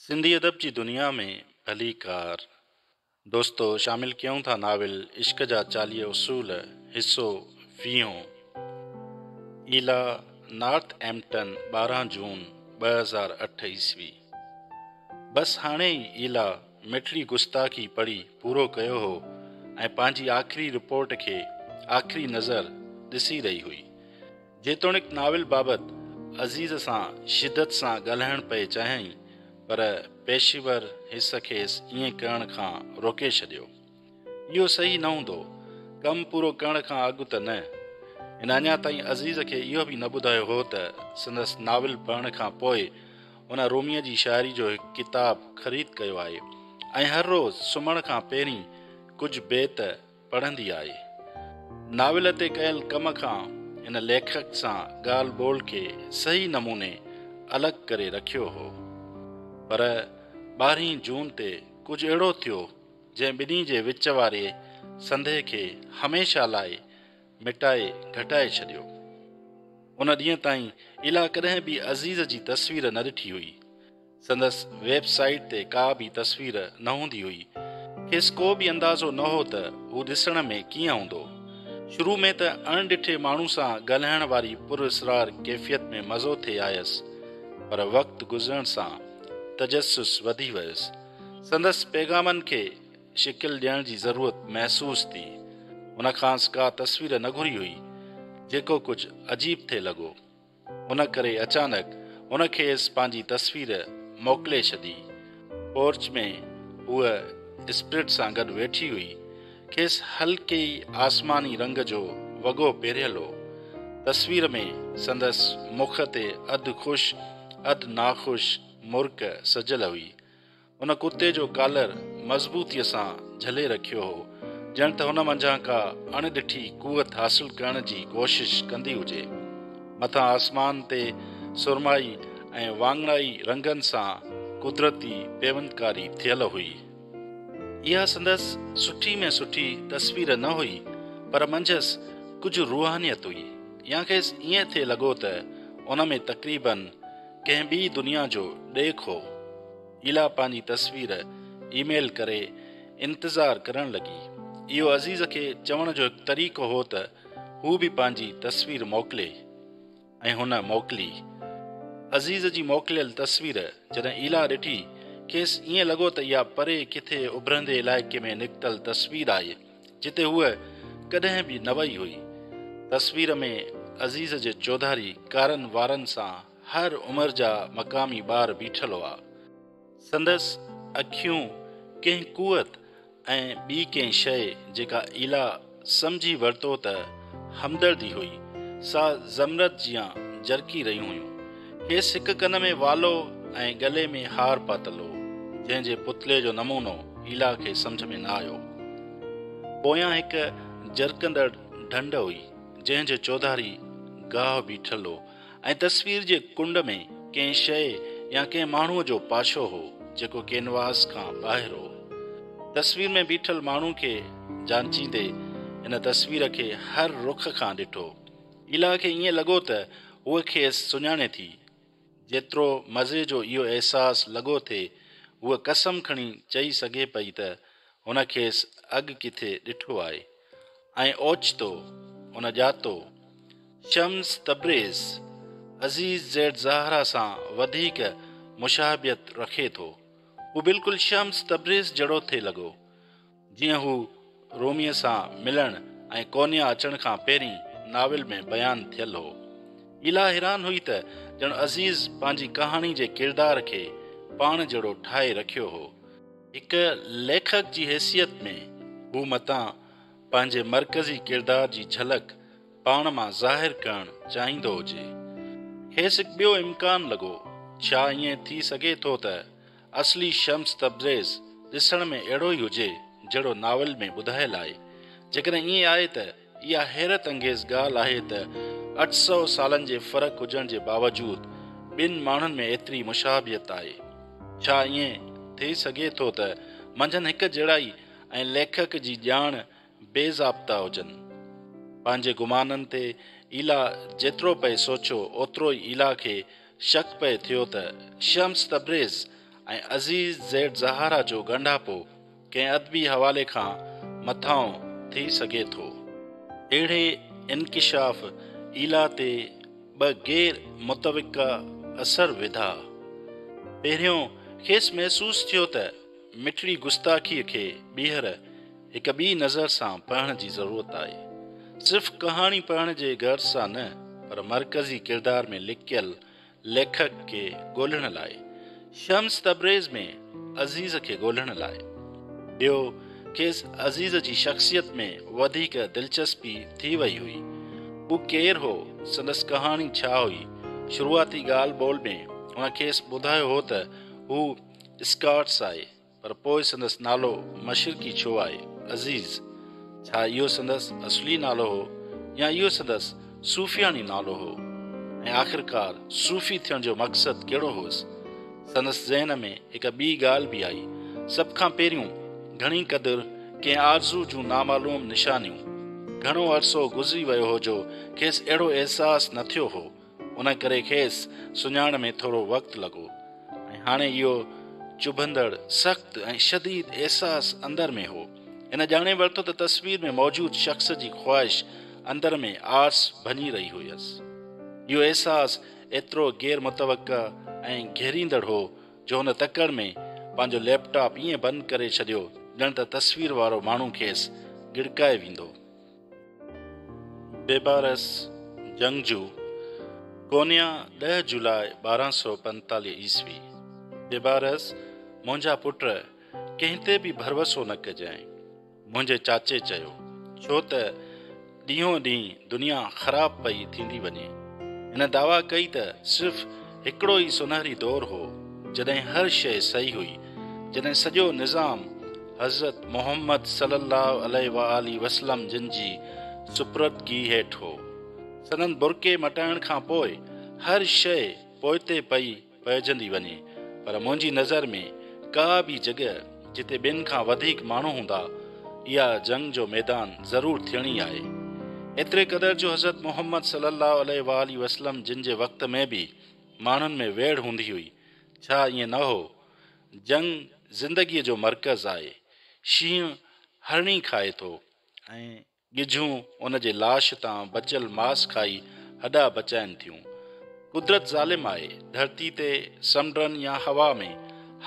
سنڌي ادب جي دنيا ۾ ڀليڪار دوستو شامل ڪيون ٿا ناول عشق جا چاليهه اصول حصو ويهون ايلا نارٿ ايمپٽن ٻارهن جون ٻه هزار اٺ عيسوي بس هاڻي ئي ايلا مٺڙي گستاخي پڙهي پورو ڪيو هو ۽ پنهنجي آخري رپورٽ کي آخري نظر ڏسي رهي هئي جيتوڻيڪ ناول بابت عزيز سان شدت سان ڳالهائڻ پئي چاهيائين پر پيشيور حس کيس ائين ڪرڻ کان روڪي ڇڏيو. اهو صحيح نه هوندو. ڪم پورو ڪرڻ کان اڳ ته نه. هن اڃا تائين عزيز کي اهو به نه ٻڌايو هو ته سندس ناول پڙهڻ کان پوء هن روميء جي شاعري جو هڪ ڪتاب خريد ڪيو آهي ۽ هر روز سمهڻ کان پهرين ڪجهه بيت پڙهندي آئي. ناول تي ڪيل ڪم کان هن ليکڪ سان ڳالهه ٻولهه کي صحيح نموني الڳ ڪري رکيو هو. پر ٻارهين جون تي ڪجهه اهڙو ٿيو جنهن ٻنهي جي وچ واري سنڌي کي هميشه لاء مٽائي گهٽائي ڇڏيو. ان ڏينهن تائين ايلا ڪڏهن به عزيز جي تصوير نه ڏٺي هئي. سندس ويب سائيٽ تي ڪا به تصوير نه هوندي هئي. کيس ڪو به اندازو نه هو ته هو ڏسڻ ۾ ڪيئن هوندو. شروع ۾ ته اڻ ڏٺي ماڻهو سان ڳالهائڻ واري پر اسرار ڪيفيت ۾ مزو ٿي آيس، پر وقت گذرڻ سان تجسس وڌي ويس. سندس پيغامن کي شڪل ڏيڻ جي ضرورت محسوس ٿي. هن کانئس ڪا تصوير نه گهري هئي، جيڪو ڪجهه عجيب ٿي لڳو. ان ڪري اچانڪ هن کيس پنهنجي تصوير موڪلي ڇڏي. پورچ ۾ هوء اسپرٽ سان گڏ ويٺي هئي. کيس هلڪي ئي آسماني رنگ جو وڳو پهريل هو. تصوير ۾ سندس مک تي اڌ خوش اڌ ناخوش مرڪ سجيل هئي. هن ڪرتي جو ڪالر مضبوطيء سان جهلي رکيو هو، ڄڻ ته هن منجهان ڪا اڻ ڏٺي قوت حاصل ڪرڻ جي ڪوشش ڪندي هجي. مٿان آسمان تي سرمائي ۽ واڱڻائي رنگن سان قدرتي پيوندڪاري ٿيل هئي. اها سندس سٺي ۾ سٺي تصوير نه هئي، پر منجهس ڪجهه روحانيت هئي، يا کيس ائين ٿي لڳو ته ان ۾ تقريباً ڪنهن ٻي دنيا جو ڏيک هو. ايلا پنهنجي تصوير اي ميل ڪري انتظار ڪرڻ لڳي. اهو عزيز کي چوڻ جو هڪ طريقو هو ته هو به پنهنجي تصوير موڪلي ۽ هن موڪلي. عزيز جي موڪليل تصوير جڏهن ايلا ڏٺي، کيس ائين لڳو ته اها پري ڪٿي اڀرندي علائقي ۾ نڪتل تصوير آهي. جتي هوء ڪڏهن به نه وئي هئي. تصوير ۾ عزيز جي چوڌاري ڪارن وارن سان هر عمر جا مقامي ٻار بيٺل هئا. سندس اکيون ڪنهن قوت ۽ ٻي ڪنهن شيء جيڪا ايلا سمجهي ورتو ته همدردي هئي، سا زمرد جيان جرڪي رهيون هيون. کيس هڪ ڪن ۾ والو ۽ ڳلي ۾ هار پاتل هو، جنهن جي پتلي جو نمونو ايلا کي سمجهه ۾ نه آيو. پويان هڪ جرڪندڙ ڍنڍ هئي، جنهن جي چوڌاري گاهه بيٺل هو ۽ تصوير جي ڪنڊ ۾ ڪنهن شيء يا ڪنهن ماڻهوء جو پاشو هو، جيڪو ڪينواس کان ٻاهر هو. تصوير ۾ بيٺل ماڻهو کي جانچيندي هن تصوير کي هر رخ کان ڏٺو. ايلا کي ائين لڳو ته هوء کيس سڃاڻي ٿي. جيترو مزي جو اهو احساس لڳو ٿي، هوء قسم کڻي چئي سگهي پئي ته هن کيس اڳ ڪٿي ڏٺو آهي ۽ اوچتو هن ڄاتو، Shams Tabriz, Aziz Z Zahara سان وڌيڪ مشاهبيت رکي ٿو. هو بلڪل شمس تبريز جهڙو ٿي لڳو. جيئن هو روميء سان ملڻ ۽ ڪونيا اچڻ کان پهرين ناول ۾ بيان ٿيل هو. ميلا حيران هئي ته ڄڻ عزيز پنهنجي ڪهاڻي جي ڪردار کي پاڻ جهڙو ٺاهي رکيو هو. هڪ ليکڪ جي حيثيت ۾ هو متان پنهنجي مرڪزي ڪردار جي جهلڪ پاڻ مان ظاهر ڪرڻ چاهيندو هجي. کيس هڪ ٻيو امڪان لڳو، ڇا ائين ٿي سگهي ٿو ته اصلي شمس تبريز ڏسڻ ۾ اهڙو ئي هجي جهڙو ناول ۾ ٻڌايل آهي. جيڪڏهن ائين آهي ته اها حيرت انگيز ڳالهه آهي ته اٺ سؤ سالن جي فرق هجڻ جي باوجود ٻن ماڻهن ۾ ايتري مشابهت آهي. ڇا ائين ٿي سگهي ٿو ته منجهن هڪ جهڙائي ۽ ليکڪ جي ڄاڻ بي ضابطا هجن. پنهنجي گمانن تي ايلا جيترو پئي سوچيو اوترو ئي ايلا کي شڪ پئي ٿيو ته Shams Tabriz ۽ Aziz Z Zahara جو ڳنڍاپو ڪنهن ادبي حوالي کان مٿانهون ٿي سگهي ٿو. اهڙي انڪشاف ايلا تي ٻه غير متوقع اثر وڌا. پهريون کيس محسوس ٿيو ته مٺڙي گستاخيء کي ٻيهر هڪ ٻي نظر سان پڙهڻ جي ضرورت آهي. صرف ڪهاڻي پڙهڻ جي غرض سان نه پر مرڪزي ڪردار ۾ لڪيل ليکڪ کي ڳولهڻ لاء، شمس تبريز ۾ عزيز کي ڳولهڻ لاء. ٻيو کيس عزيز جي شخصيت ۾ وڌيڪ دلچسپي ٿي وئي هئي. هو ڪير هو، سندس ڪهاڻي ڇا هئي، شروعاتي ڳالهه ٻولهه ۾ هن کيس ٻڌايو هو ته هو اسڪاٽس آهي، پر پوء سندس نالو مشرقي ڇو آهي؟ عزيز، ڇا اهو سندس اصلي نالو هو يا اهو سندس صوفياڻي نالو هو؟ ۽ آخرڪار صوفي ٿيڻ جو مقصد ڪهڙو هوس؟ سندس ذهن ۾ هڪ ٻي ڳالهه به آئي. سڀ کان پهريون، گهڻي قدر ڪنهن آرزو جون نامعلوم نشانيون. گهڻو عرصو گذري ويو هو جو کيس اهڙو احساس نه ٿيو هو. ان ڪري کيس سڃاڻ ۾ ٿورو وقت لڳو ۽ هاڻي اهو چڀندڙ، سخت ۽ شديد احساس اندر ۾ هو. هن ڄاڻي ورتو ته تصوير ۾ موجود شخص جي خواهش اندر ۾ آرس ڀڃي رهي هيس. اهو احساس ايترو غير متوقع ۽ گهيريندڙ هو جو هن تڪڙ ۾ پنهنجو ليپ ٽاپ ائين بند ڪري ڇڏيو ڄڻ ته تصوير وارو ماڻهو کيس ڳڙڪائي ويندو. بيبارس جنگجو، ڪونيا، ڏهه جولاء ٻارهن سؤ پنجيتاليهه عيسوي، بيبارس، منهنجا پٽ، ڪنهن تي به ڀروسو نه ڪجانء. منهنجي چاچي چيو، ڇو ته ڏينهون ڏينهن دنيا خراب پئي ٿيندي وڃي. هن دعويٰ ڪئي ته صرف هڪڙو ئي سونهري دور هو، جڏهن هر شيء صحيح هئي، جڏهن سڄو نظام حضرت محمد صلي الله عليه وآله وسلم جن جي سپردگي هيٺ هو. سندن برقعي مٽائڻ کان پوء هر شيء پوئتي پئي پئجندي وڃي، پر منهنجي نظر ۾ ڪا به جڳهه، جتي ٻين کان وڌيڪ ماڻهو هوندا، اها جنگ جو ميدان ضرور ٿيڻي آهي. ايتري قدر جو حضرت محمد صلي الله عليه واٰله وسلم جن جي وقت ۾ به ماڻهن ۾ ويڙهه هوندي هئي، ڇا ائين نه هو؟ جنگ زندگيء جو مرڪز آهي. شينهن هرڻي کائي ٿو ۽. ڳجهون ان جي لاش تان بچيل ماس کائي هڏا بچائين ٿيون. قدرت ظالم آهي، ڌرتي تي، سمنڊن يا هوا ۾،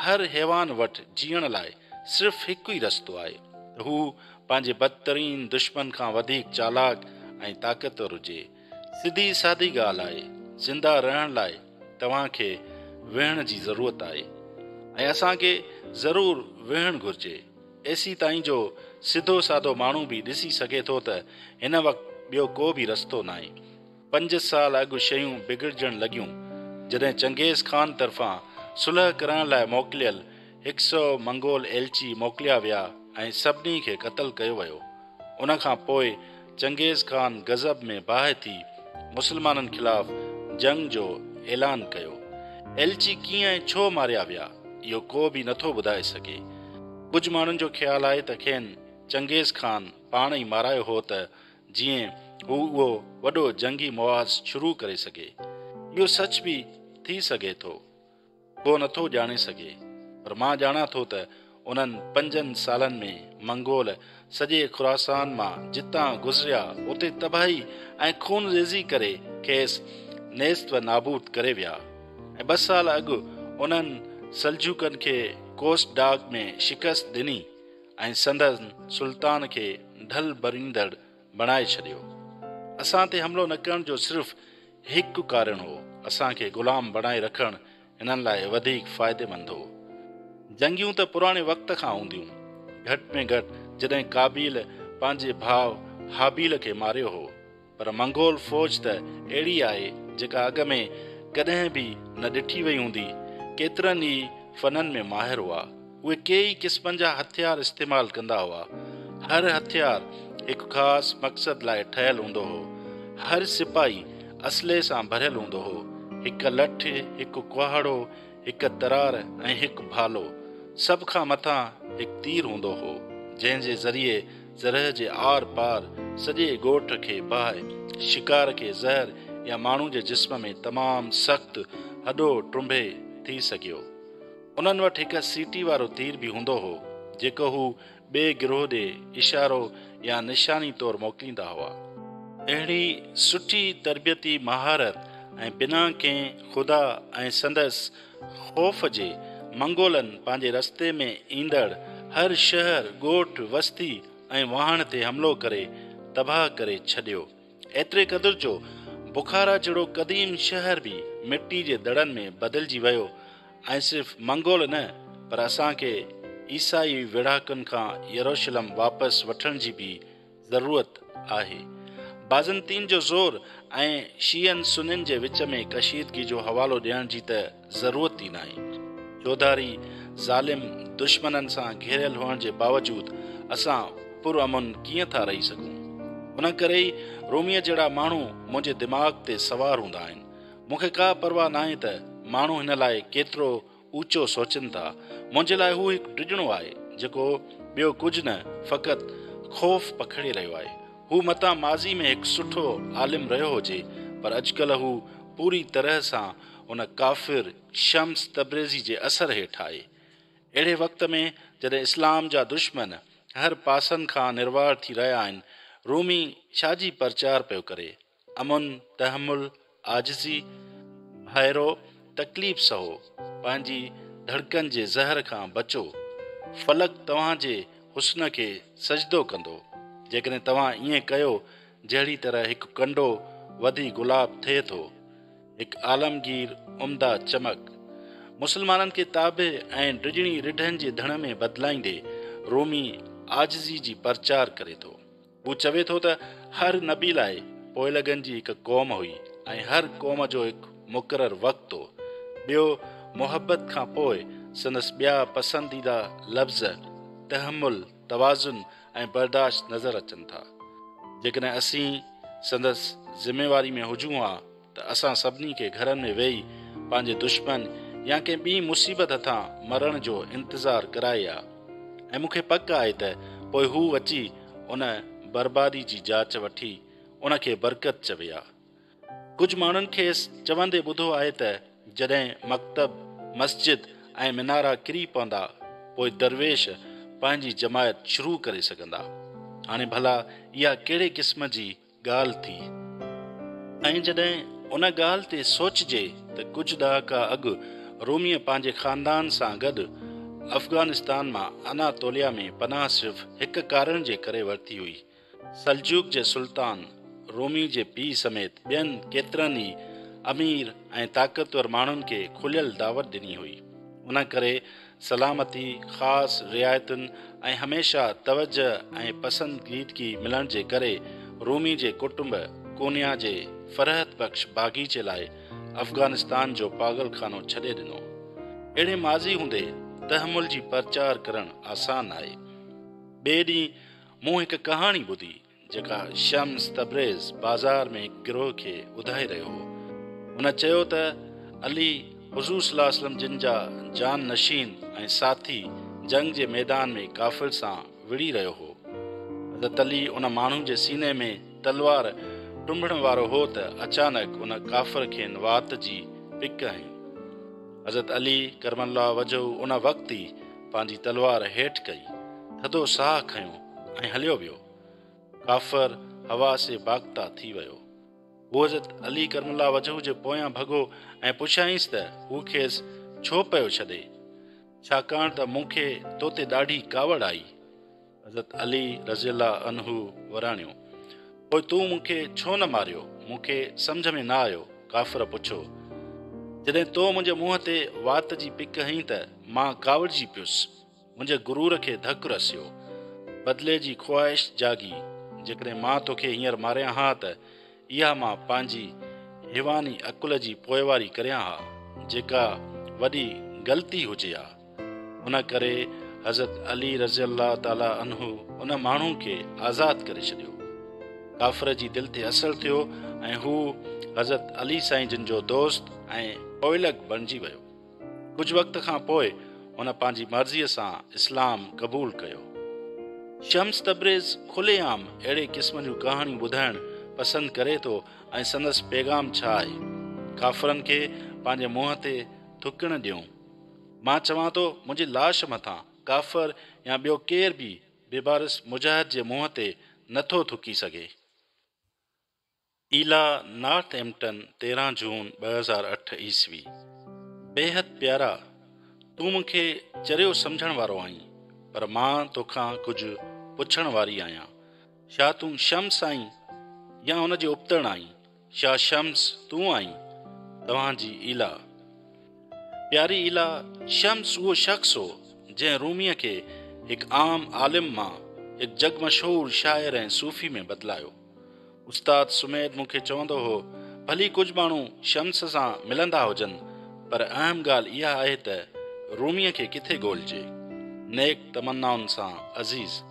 هر حيوان وٽ جيئڻ لاء صرف هڪ ئي رستو آهي ته هو پنهنجي بدترين دشمن کان وڌيڪ چالاڪ ۽ طاقتور هجي. سڌي سادي ڳالهه آهي، زنده رهڻ لاء توهان کي ويهڻ جي ضرورت آهي ۽ اسان کي ضرور ويهڻ گهرجي. ايسي تائين جو سڌو سادو ماڻهو به ڏسي سگهي ٿو ته هن وقت ٻيو ڪو به رستو ناهي. پنج سال اڳ شيون بگڙجڻ لڳيون جڏهن چنگيز خان طرفان صلح ڪرائڻ لاء موڪليل هڪ سئو منگول ايلچي موڪليا ويا ۽ سڀني کي قتل ڪيو ويو. ان کان پوء چنگيز خان غضب ۾ باهه ٿي مسلمانن خلاف جنگ جو اعلان ڪيو. ايلچي ڪيئن ۽ ڇو ماريا ويا، اهو ڪو به نٿو ٻڌائي سگهي. ڪجهه ماڻهن جو خيال آهي ته کين چنگيز خان پاڻ ئي مارايو هو ته جيئن هو اهو وڏو جنگي محاذ شروع ڪري سگهي. اهو سچ به ٿي سگهي ٿو. ڪو نه ٿو ڄاڻي سگهي، پر مان ڄاڻان ٿو ته انهن پنجن سالن ۾ منگول سڄي خراسان مان جتان گذريا اتي تباهي ۽ خون ريزي ڪري کيس نيست و نابود ڪري ويا ۽ ٻه سال اڳ انهن سلجوقن کي ڪوس ڊاگ ۾ شڪست ڏني ۽ سندن سلطان کي ڍل ڀريندڙ بڻائي ڇڏيو. اسان تي حملو نه ڪرڻ جو صرف هڪ ڪارڻ هو، اسان کي غلام بڻائي رکڻ هنن لاء وڌيڪ فائديمند هو. جنگيون ته پراڻي وقت کان هونديون. گهٽ ۾ گهٽ جڏهن قابيل پنهنجي ڀاء هابيل کي ماريو هو. پر منگول فوج ته اهڙي آهي جيڪا اڳ ۾ ڪڏهن به نه ڏٺي وئي هوندي. ڪيترن ئي فنن ۾ ماهر هئا. اهي ڪيئي قسمن جا هٿيار استعمال ڪندا هئا. هر هٿيار هڪ خاص مقصد لاء ٺهيل هوندو هو. هر سپاهي اسلحي سان ڀريل هوندو هو. هڪ لٺ، هڪ ڪهاڙو، هڪ ترار ۽ هڪ ڀالو. سڀ کان مٿان هڪ تير هوندو هو، جنهن جي ذريعي زرهه جي آر پار سڄي ڳوٺ کي باهه، شڪار کي زهر يا ماڻهو جي جسم ۾ تمام سخت هڏو ٽنبي ٿي سگهيو. انهن وٽ هڪ سيٽي وارو تير به هوندو هو، جيڪو هو ٻئي گروهه ڏي اشارو يا نشاني طور موڪليندا هئا. اهڙي سٺي تربيتي مهارت ۽ بنا ڪنهن خدا ۽ سندس خوف جي، منگولن پنهنجي رستي ۾ ايندڙ هر شهر، ڳوٺ، وستي ۽ واهڻ تي حملو ڪري تباهه ڪري ڇڏيو. ايتري قدر جو بخارا جهڙو قديم شهر به مٽي جي دڙن ۾ بدلجي ويو ۽ صرف منگول نه پر اسان کي عيسائي ويڙهاڪن کان يروشلم واپس وٺڻ جي به ضرورت آهي. بازنطين جو زور ۽ شيعن سنين جي وچ ۾ ڪشيدگي جو حوالو ڏيڻ جي ته ضرورت ئي ناهي. چوڌاري ظالم دشمنن سان گهيريل هئڻ جي باوجود اسان پر امن ڪيئن ٿا رهي سگهون؟ ان ڪري ئي روميء جهڙا ماڻهو منهنجي دماغ تي سوار هوندا آهن. مون کي ڪا پرواهه ناهي ته ماڻهو هن لاء ڪيترو اوچو سوچين ٿا. منهنجي لاء هو هڪ ڊڄڻو آهي، جيڪو ٻيو ڪجهه نه، فقط خوف پکڙي رهيو آهي. هو متان ماضي ۾ هڪ سٺو عالم رهيو هجي، پر اڄڪلهه هو پوري طرح سان هن ڪافر شمس تبريزي جي اثر هيٺ آئي. اهڙي وقت ۾ جڏهن اسلام جا دشمن هر پاسن کان نروار ٿي رهيا آهن، رومي ڇا جي پرچار پيو ڪري؟ امن، تحمل، عاجزي، ڀائرو، تڪليف سهو، پنهنجي ڌڙڪن جي زهر کان بچو، فلڪ توهان جي حسن کي سجدو ڪندو، جيڪڏهن توهان ائين ڪيو جهڙي طرح هڪ ڪنڊو وڌي گلاب ٿئي ٿو، هڪ عالمگير عمده چمڪ، مسلمانن کي تابع ۽ ڊڄڻي رڍن جي ڌڻ ۾ بدلائيندي، رومي عاجزي جي پرچار ڪري ٿو. هو چوي ٿو ته هر نبي لاء پوئلڳن جي هڪ قوم هئي ۽ هر قوم جو هڪ مقرر وقت هو. ٻيو، محبت کان پوء سندس ٻيا پسنديده لفظ تحمل، توازن ۽ برداشت نظر اچن ٿا. جيڪڏهن اسين سندس ذميواري ۾ هجون ها ته اسان سڀني کي گهرن ۾ ويهي پنهنجي دشمن يا ڪنهن ٻي مصيبت هٿان مرڻ جو انتظار ڪرائي ها ۽ مون کي پڪ آهي ته پوء هو اچي ان بربادي جي جاچ وٺي ان کي برڪت چوي ها. ڪجهه ماڻهن کيس چوندي ٻڌو آهي ته جڏهن مڪتب، مسجد ۽ منارا ڪري پوندا پوء درويش پنهنجي جماعت شروع ڪري سگهندا. هاڻي ڀلا اها ڪهڙي قسم جي ڳالهه ٿي؟ ۽ جڏهن ان ڳالهه تي سوچجي ته ڪجهه ڏهاڪا اڳ روميء پنهنجي خاندان سان گڏ افغانستان مان اناطوليا ۾ پناهه صرف هڪ ڪارڻ جي ڪري ورتي هئي سلجوق جي سلطان، رومي جي پيء سميت ٻين ڪيترن ئي امير ۽ طاقتور ماڻهن کي کليل دعوت ڏني هئي. ان ڪري سلامتي، خاص رعايتن ۽ هميشه توجهه ۽ پسنديدگي ملڻ جي ڪري رومي جي ڪٽنب ڪونيا جي فرحت بخش باغيچي لاء افغانستان جو پاڳل خانو ڇڏي ڏنو. اهڙي ماضي هوندي تحمل جي پرچار ڪرڻ آسان آهي. ٻئي ڏينهن مون هڪ ڪهاڻي ٻڌي جيڪا شمس تبريز بازار ۾ هڪ گروهه کي ٻڌائي رهيو هو. هن چيو ته علي، حضور صلي الله عليه وسلم جن جا جان نشين ۽ ساٿي جنگ جي ميدان ۾ ڪافر سان وڙهي رهيو هو. حضرت علي ان ماڻهو جي سيني ۾ تلوار ٽنبڻ وارو هو ته اچانڪ ان ڪافر کين وات جي پڪ هنئي. حضرت علي ڪرم الله وجهه ان وقت ئي پنهنجي تلوار هيٺ ڪئي، ٿڌو ساهه کنيو ۽ هليو ويو. ڪافر هوا سي باغتا ٿي ويو. هو حضرت علي ڪرم الله وجهه جي پويان ڀڳو ۽ پڇيائينس ته هو کيس ڇو پيو ڇڏي؟ ڇاڪاڻ ته مون کي تو تي ڏاڍي ڪاوڙ آئي. حضرت علي رضي الله عنه وراڻيو، پوء تون مون کي ڇو نه ماريو؟ مون کي سمجهه ۾ نه آيو. ڪافر پڇيو، جڏهن تو منهنجي منهن تي وات جي پڪ هنئين ته مان ڪاوڙجي پيس، منهنجي غرور کي ڌڪ رسيو. بدلي جي خواهش جاڳي، جيڪڏهن مان توکي هينئر ماريان ها ته اها مان پنهنجي حيواني عقل جي پوئواري ڪريان ها، جيڪا وڏي غلطي هجي ها. ان ڪري حضرت علي رضي الله تعالٰي عنه ان ماڻهو کي آزاد ڪري ڇڏيو. ڪافر جي دل تي اثر ٿيو ۽ هو حضرت علي سائين جن جو دوست ۽ پوئلڳ بڻجي ويو. ڪجهه وقت کان پوء هن پنهنجي مرضيء سان اسلام قبول ڪيو. شمس تبريز کلي عام اهڙي قسم جون ڪهاڻيون ٻڌائڻ پسند ڪري ٿو ۽ سندس پيغام ڇا آهي؟ ڪافرن کي پنهنجي منهن تي ٿڪڻ ڏيون. مان چوان ٿو منهنجي لاش مٿان ڪافر يا ٻيو ڪير به بيبارس مجاهد جي منهن تي نٿو ٿڪي سگهي. ايلا نارٿ ايمپٽن تيرهن جون ٻه هزار اٺ عيسوي بيحد پيارا تون مون کي چريو سمجهڻ وارو آهين پر مان توکان ڪجهه پڇڻ واري آهيان ڇا تون شمس آهين يا ان جي ابتڙ آهين ڇا شمس تون آهين توهان جي ايلا پياري ايلا شمس اهو شخص هو جنهن روميء کي هڪ عام عالم مان هڪ جڳ مشهور شاعر ۽ صوفي ۾ بدلايو. استاد سميد مون کي چوندو هو، ڀلي ڪجهه ماڻهو شمس سان ملندا هجن، پر اهم ڳالهه اها آهي ته روميء کي ڪٿي ڳولجي. نيڪ تمنائن سان عزيز.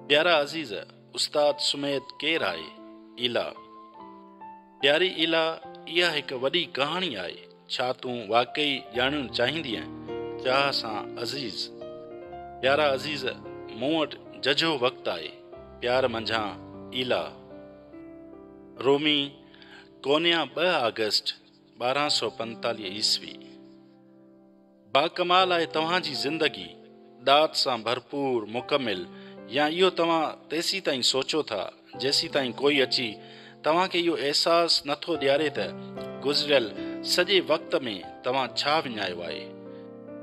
پيارا عزيز، استاد سميد ڪير آهي؟ ايلا. پياري ايلا اها هڪ وڏي ڪهاڻي آهي ڇا تون واقعي ڄاڻڻ چاهيندينء؟ چاهه سان عزيز. پيارا عزيز مون وٽ ججهو وقت آهي پيار منجهان ايلا. رومي، ڪونيا ٻه آگسٽ ٻارهن سؤ پنجيتاليهه عيسوي. باڪمال آهي توهان جي زندگي، ڏات سان ڀرپور، مڪمل، يا اهو توهان تيسيتائين سوچو ٿا، جيسيتائين ڪوئي اچي توهان کي اهو احساس نه ٿو ڏياري ته گذريل سڄي وقت ۾ توهان ڇا وڃايو آهي.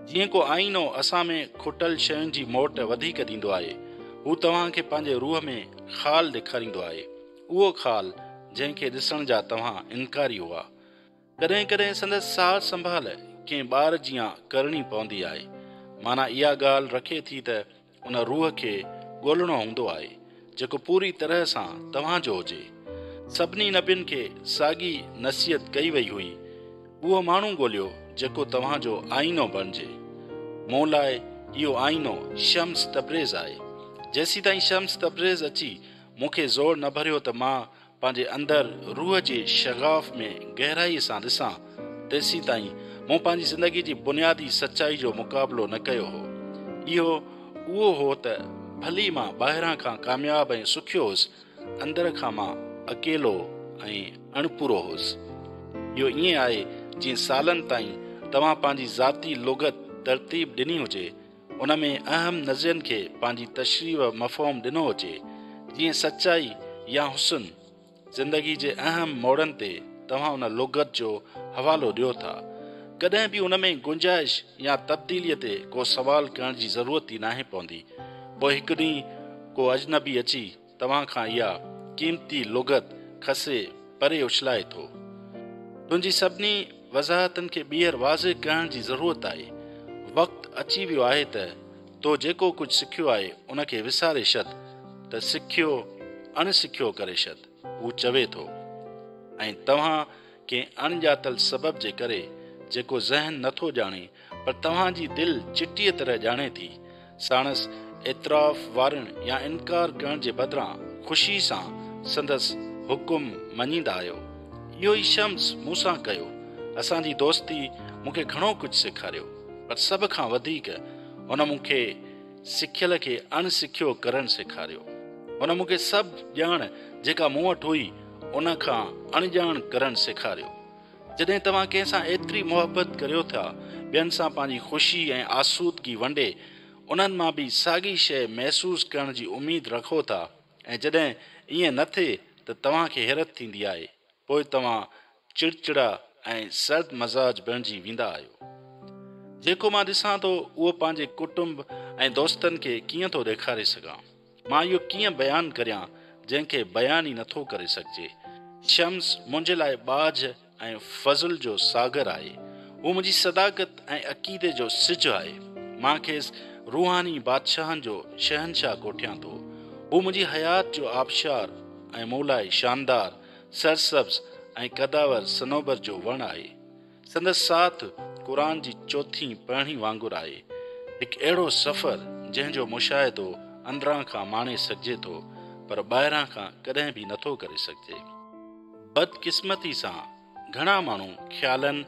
جيئن ڪو آئينو اسان ۾ کٽل شين جي موٽ وڌيڪ ڏيندو آهي، هو توهان کي پنهنجي روح ۾ خال ڏيکاريندو آهي، اهو خال جنهن کي ڏسڻ جا توهان انڪاري هئا. ڪڏهن ڪڏهن سندس سار سنڀال ڪنهن ٻار جيان ڪرڻي پوندي آهي. معنيٰ اها ڳالهه رکي ٿي ته ان روح کي ڳولڻو هوندو آهي، جيڪو پوري طرح سان توهان جو هجي. سڀني نبين کي ساڳي نصيحت ڪئي وئي هئي، اهو ماڻهو ڳوليو جيڪو توهان جو آئينو بڻجي. مون لاء اهو آئينو شمس تبريز آهي. جيسيتائين شمس تبريز اچي مون کي زور نه ڀريو ته مان پنهنجي اندر روح جي شغاف ۾ گهرائي سان ڏسان، تيسيتائين مون پنهنجي زندگي جي بنيادي سچائي جو مقابلو نه ڪيو هو. اهو اهو هو ته ڀلي مان ٻاهران کان ڪامياب ۽ سکيو هوس، اندر کان مان اڪيلو ۽ اڻپورو هوس. اهو ائين آهي جيئن سالن تائين توهان پنهنجي ذاتي لغت ترتيب ڏني هجي، ان ۾ اهم نظرين کي پنهنجي تشريح و مفهوم ڏنو هجي، جيئن سچائي يا حسن، زندگي جي اهم موڙن تي توهان ان لغت جو حوالو ڏيو ٿا. ڪڏهن به ان ۾ گنجائش يا تبديليء تي ڪو سوال ڪرڻ جي ضرورت ئي ناهي پوندي. پوء هڪ ڏينهن ڪو اجنبي اچي توهان کان اها قيمتي لغت کسي پري اڇلائي ٿو. تنهنجي سڀني وضاحتن کي ٻيهر واضح ڪرڻ جي ضرورت آهي. وقت اچي ويو آهي ته تو جيڪو ڪجهه سکيو آهي ان کي وساري شد ته سکيو اڻ سکيو ڪري شد. هو چوي ٿو. ۽ توهان ڪنهن اڻ ڄاتل سبب جي ڪري جيڪو ذهن نه ٿو ڄاڻي پر توهان جي دل چٽيء طرح ڄاڻي ٿي، ساڻس اعتراف وارڻ يا انڪار ڪرڻ جي بدران خوشي سان سندس حڪم مڃيندا آهيو. اهو ئي شمس مون سان ڪيو. اسان جي دوستي مون کي گهڻو ڪجهه سيکاريو پر سڀ کان وڌيڪ هن مون کي. سکيل کي اڻ سکيو ڪرڻ سيکاريو. هن مون کي سڀ ڄاڻ جيڪا مون وٽ هئي ان کان اڻڄاڻ ڪرڻ سيکاريو. جڏهن توهان ڪنهن سان ايتري محبت ڪريو ٿا ٻين سان پنهنجي خوشي ۽ آسودگي ونڊي انهن مان به ساڳي شيء محسوس ڪرڻ جي اميد رکو ٿا ۽ جڏهن ائين نه ٿئي ته توهان کي حيرت ٿيندي آهي پوء توهان چڙچڙا ۽ سرد مزاج بڻجي ويندا آهيو. جيڪو مان ڏسان ٿو اهو پنهنجي ڪٽنب ۽ دوستن کي ڪيئن ٿو ڏيکاري سگهان. مان اهو ڪيئن بيان ڪريان جنهن کي بيان ئي نٿو ڪري سگهجي. شمس منهنجي لاء ٻاجهه ۽ فضل جو ساگر آهي. هو منهنجي صداقت ۽ عقيدي جو سج آهي. مان کيس روحاني بادشاهن جو شهنشاهه ڪوٺيان ٿو. هو منهنجي حيات جو آبشار ۽ مون لاء شاندار سرسبز ۽ قداور صنوبر جو وڻ آهي. سندس ساٿ قرآن جي چوٿين پهڻي وانگر آهي. هڪ اهڙو سفر جنهن جو مشاهدو اندران کان ماڻي سگهجي ٿو پر ٻاهران کان ڪڏهن به نٿو ڪري سگهجي. بدقسمتي سان گهڻا ماڻهو خيالن،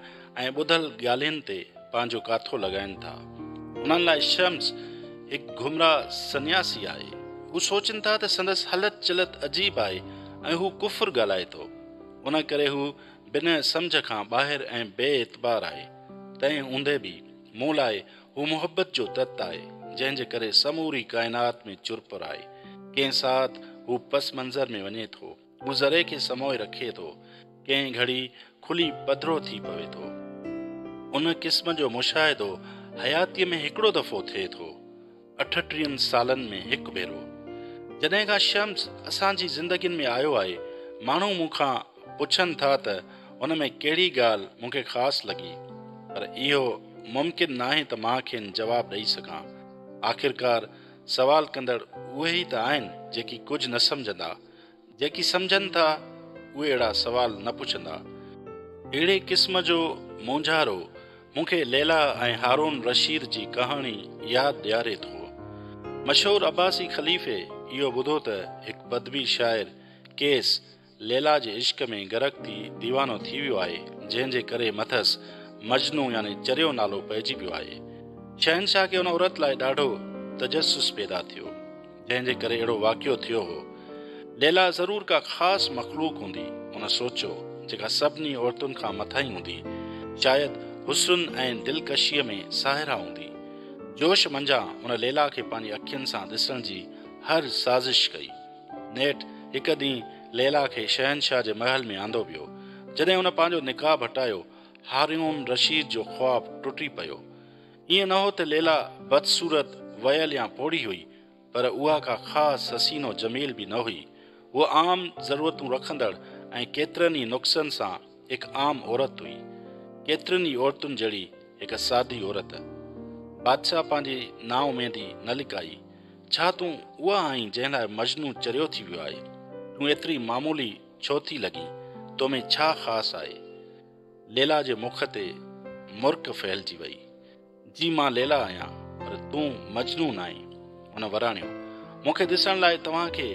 ۽ ٻڌل ڳالهين تي پنهنجو ڪاٿو لڳائين ٿا. انهن لاء شمس هڪ گمراهه سنياسي آهي. هو سوچين ٿا ته سندس هلت چلت عجيب آهي ۽ هو ڪفر ڳالهائي ٿو. ان ڪري هو بنهه سمجهه کان ٻاهر ۽ بي اعتبار آهي. تنهن هوندي به مون لاء هو محبت جو تت آهي، جنهن جي ڪري سموري ڪائنات ۾ چرپر آهي. ڪنهن ساعت هو پس منظر ۾ وڃي ٿو. مون ذري کي سموئي رکي ٿو، ڪنهن گهڙي کلي پڌرو ٿي پوي ٿو. ان قسم جو مشاهدو حياتيء ۾ هڪڙو دفعو ٿئي ٿو، اٺٽيهن سالن ۾ هڪ ڀيرو. جڏهن کان شمس اسان جي زندگين ۾ آيو آهي، ماڻهو مون کان پڇن ٿا ته هن ۾ ڪهڙي ڳالهه مون کي خاص لڳي، پر اهو ممڪن ناهي ته مان کين جواب ڏئي سگهان. آخرڪار سوال ڪندڙ اهي ئي ته آهن، جيڪي ڪجهه نه سمجهندا. جيڪي سمجهن ٿا اهي اهڙا سوال نه پڇندا. اهڙي قسم جو مونجهارو مون کي ليليٰ ۽ هارون رشيد جي ڪهاڻي ياد ڏياري ٿو. مشهور عباسي خليفي اهو ٻڌو ته هڪ بدوي شاعر قيس ليليٰ جي عشق ۾ غرق ٿي ديوانو ٿي ويو آهي جنهن جي ڪري مٿس مجنو يعني چريو نالو پئجي پيو آهي. شهنشاهه کي ان عورت لاء ڏاڍو تجسس پيدا ٿيو. جنهن جي ڪري اهڙو واقعو ٿيو هو. ليلا ضرور ڪا خاص مخلوق هوندي، هن سوچيو، جيڪا سڀني عورتن کان مٿاهين هوندي. شايد حسن ۽ دلڪشيء ۾ ساهرا هوندي. جوش منجهان هن ليلا کي پنهنجي اکين سان ڏسڻ جي هر سازش ڪئي. نيٺ هڪ ڏينهن ليلا کي شهنشاهه جي محل ۾ آندو ويو. جڏهن هن پنهنجو نقاب هٽايو، هاريون رشيد جو خواب ٽٽي پيو. ائين نه هو ته ليلا بدصورت، وئيل يا پوڙهي هئي، پر اها ڪا خاص حسين و جميل به نه هئي. هوء عام ضرورتون رکندڙ ۽ ڪيترن ئي نقصن سان هڪ عام عورت هئي. ڪيترين ئي عورتن جهڙي هڪ سادي عورت. بادشاهه پنهنجي نااميدي نه لڪائي. ڇا تون اها آهين جنهن لاء مجنون چريو ٿي ويو آهي؟ تون ايتري معمولي ڇو ٿي لڳين؟ تو ۾ ڇا خاص آهي؟ ليلا جي مک تي مرڪ ڦهلجي وئي. جي مان ليلا آهيان پر تون مجنون آهين. هن وراڻيو، مون کي ڏسڻ لاء توهان کي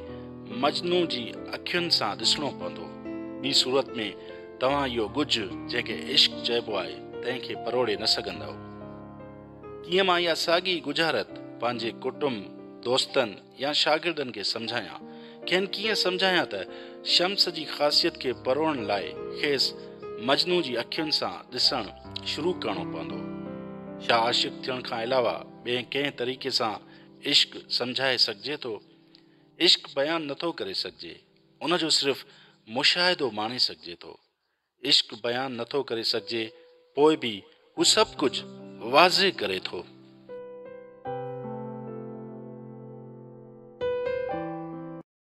مجنون جي اکين سان ڏسڻو پوندو. ٻي صورت ۾ توهان اهو ڳجهه جنهن کي عشق چئبو آهي تنهن کي پروڙي نه سگهندؤ. تيئن مان اها ساڳي ڳجهارت پنهنجي ڪٽنب، دوستن، يا شاگردن کي سمجهايان. کين ڪيئن سمجهايان ته شمس جي خاصيت کي پروڙڻ لاء کيس مجنون جي اکين سان ڏسڻ شروع ڪرڻو پوندو. ڇا عاشق ٿيڻ کان علاوه ٻئي ڪنهن طريقي سان عشق سمجهائي سگهجي ٿو؟ عشق بيان نٿو ڪري سگهجي، ان جو صرف مشاهدو ماڻي سگهجي ٿو. عشق بيان نٿو ڪري سگهجي پوء به هو سڀ ڪجهه واضح ڪري ٿو.